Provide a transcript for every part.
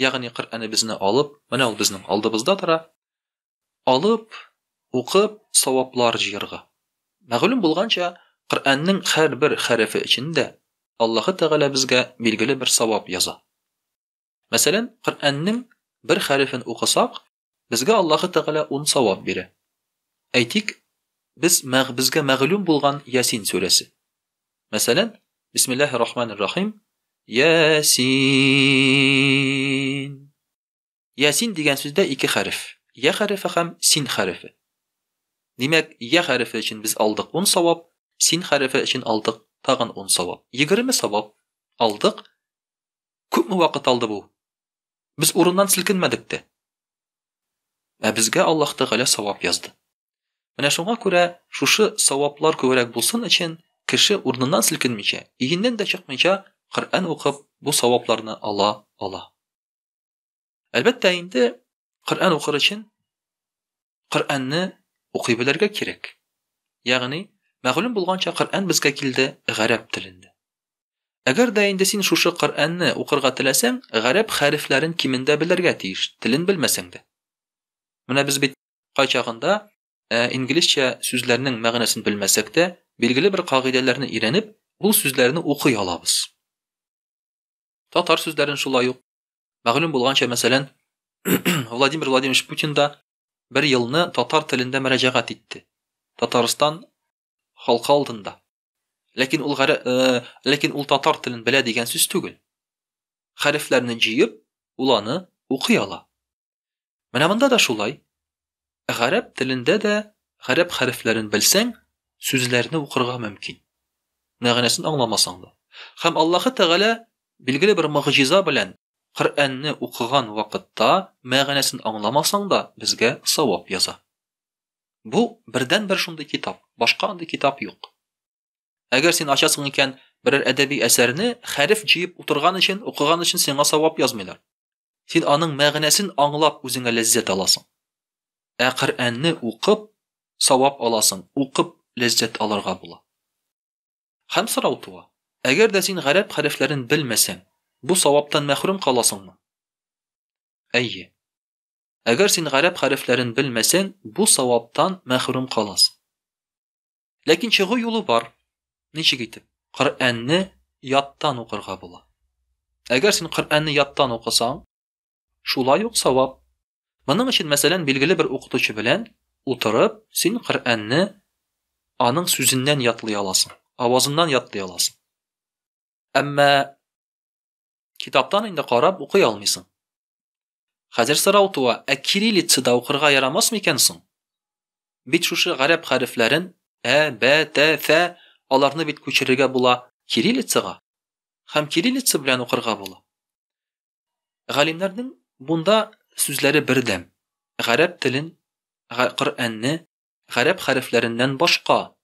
ягъни Коръәнебезне алып, менә ул безнең алдыбызда тора, алып, укып, саваплар җыярга. Мәгълүм булганча, Коръәннең һәрбер хәрефе өчен дә Аллаһы Тәгалә безгә билгеле бер савап яза. Мәсәлән, Коръәннең бер хәрефен укысак, Безгә Аллаһы Тәгалә ун савап бирә. Әйтик, без мәг безгә мәгълүм булган Ясин сүрәсе. Мәсәлән, Бисмиллаһи рахмани рахим, Ясин. Ясин дигән сүздә ике хәреф, я хәрефе һәм син хәрефе. Димәк, я хәрефе өчен без алдык ун савап, син хәрефе өчен алдык тагын ун савап. Егерме савап алдык. Күпме вакыт алды бу? Без урыннан селкенмәдек тә. Ә безгә Аллаһ Тәгалә савап язды. Менә шуңа күрә шушы саваплар күбрәк булсын өчен, кеше урыныннан селкенмичә, өеннән дә чыкмыйча Коръән укып, бу савапларны ала ала. Әлбәттә инде, Коръән укыр өчен Коръәнне укый белергә кирәк. Ягъни, мәгълүм булганча, Коръән безгә килде гарәп телендә. Әгәр дә инде син шушы Коръәнне укырга теләсәң, гарәп хәрефләрен кимендә белергә тиеш, телен белмәсәң дә. Менә без бит кайчагында Ә инглизчә сүзләрнең мәгънәсен белмәсәк тә, билгеле бер кагыйдәләрне өйрәнеп, ул сүзләрне укый алабыз. Татар сүзләрен шулай ук Мәгълүм булганча, мәсәлән, Владимир Владимирович Путин да бер елны татар телендә мөрәҗәгать итте. Татарстан халкы алдында. Ләкин ул гәрә, э, ләкин ул татар телен белә дигән сүз түгел. Хәрефләрне җыеп, ул аны укый ала. Менә монда да шулай. Гарәп телендә дә гарәп хәрефләрен белсәң, сүзләрне укырга мөмкин. Мәгънәсен аңламасаң да. Хәм Аллаһы Тәгалә билгеле бер мөгъҗиза белән Коръәнне укыган вакытта мәгънәсен аңламасаң да безгә савап яза. Бу бердәнбер шундый китап, башка андый китап юк. Әгәр син ачасың икән берәр әдәби әсәрне, хәреф җыеп утырган өчен, укыган өчен сиңа савап язмыйлар. Син аның мәгънәсен аңлап үзеңә ләззәт аласың. Ә Коръәнне укып савап аласың, укып ләззәт алырга була. Хәм сорау туа. Әгәр дә син гарәп хәрефләрен белмәсәң, бу саваптан мәхрүм каласыңмы? Әйе. Әгәр син гарәп хәрефләрен белмәсәң, бу саваптан мәхрүм каласың. Ләкин чыгу юлы бар. Ничек итеп? Коръәнне яттан укырга була. Әгәр син Коръәнне яттан укысаң, шулай ук савап. Моның өчен, мәсәлән, билгеле бер укытучы белән утырып, син Коръәнне аның сүзеннән ятлый аласың, авазыннан ятлый аласың. Әмма китаптан инде карап укый алмыйсың. Хәзер сорау туа, ә кириллицада укырга ярамас микән соң? Бит шушы гарәп хәрефләрен, ә, бә, тә, фә, аларны бит күчерергә була кириллицага һәм кириллица белән укырга була. Галимнәрнең бунда сүзләре бердәм. Гарәп телен, Коръәнне гарәп хәрефләреннән башка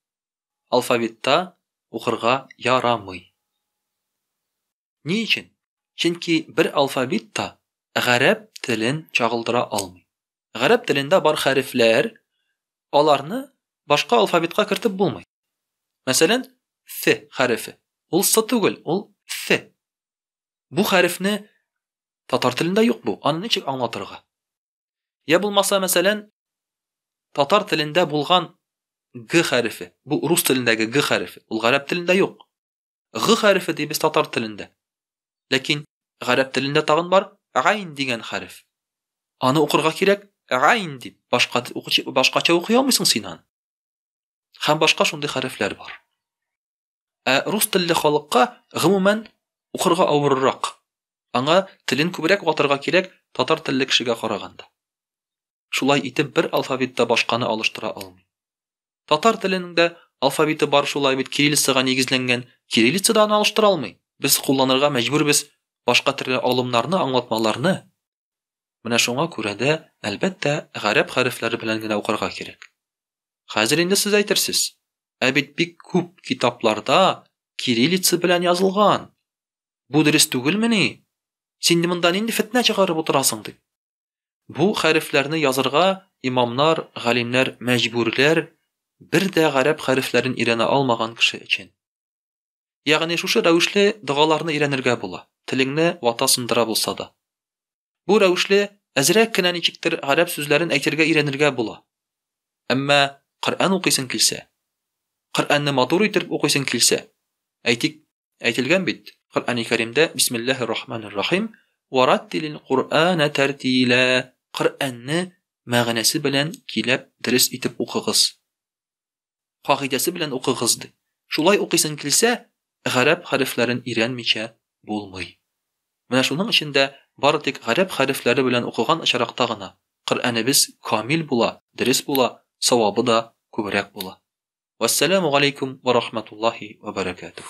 алфавитта укырга ярамый. Ни өчен? Чөнки бер алфавит та гарәп телен чагылдыра алмый. Гарәп телендә бар хәрефләр, аларны башка алфавитка кертеп булмый. Мәсәлән, ф хәрефе. Ул с түгел, ул ф. Бу хәрефне татар телендә юк бу. Аны ничек аңлатырга? Я булмаса, мәсәлән, татар телендә булган г хәрефе. Бу рус телендәге г хәрефе. Ул гарәп телендә юк. Г хәрефе дибез татар телендә. Ләкин гарәп телендә тагын бар гайн дигән хәреф. Аны укырга кирәк гайн дип. Башка укучы башкача укый алмыйсың син аны. Һәм башка шундый хәрефләр бар. Ә рус телле халыкка гомумән укырга авыррак. Аңа телен күбрәк ватырга кирәк татар телле кешегә караганда. Шулай итеп бер алфавитта башканы алыштыра алмый. Татар теленең дә алфавиты бар шулай бит кириллицага нигезләнгән, кириллица да аны алыштыра алмый. Без кулланырга мәҗбүрбез башка төрле алымнарны, аңлатмаларны. Менә шуңа күрә дә, әлбәттә, гарәп хәрефләре белән генә укырга кирәк. Хәзер инде сез әйтерсез. Ә бит бик күп китапларда кириллица белән язылган. Бу дөрес түгелмени? Син монда нинди фетнә чыгарып утырасың, дип. Бу хәрефләрне язырга имамнар, галимнәр мәҗбүрләр, бер дә гарәп хәрефләрен өйрәнә алмаган кеше өчен. Ягъни шушы рәвешле догаларны өйрәнергә була, телеңне вата-сындыра булса да. Бу рәвешле әзрәк кенә ничектер гарәп сүзләрен әйтергә өйрәнергә була. Әмма Коръән укыйсың килсә, Коръәнне матур итеп укыйсың килсә, әйтик, Әйтелгән бит, Коръәни Кәримдә Бисмиллаһи рахманир рахим, Вә раттилил Коръәнә тәртилә, Коръәнне мәгънәсе белән киләп дөрес итеп укыгыз. Кагыйдәсе белән укыгыз, ди. Шулай укыйсың килсә, гарәп хәрефләрен өйрәнмичә булмый. Менә шуның өчен дә бары тик гарәп хәрефләре белән укыган очракта гына Коръәнебез камил була, дөрес була, савабы да күбрәк була. Вәссәламү галәйкүм вә рахматуллаһи вә бәрәкәтүһ.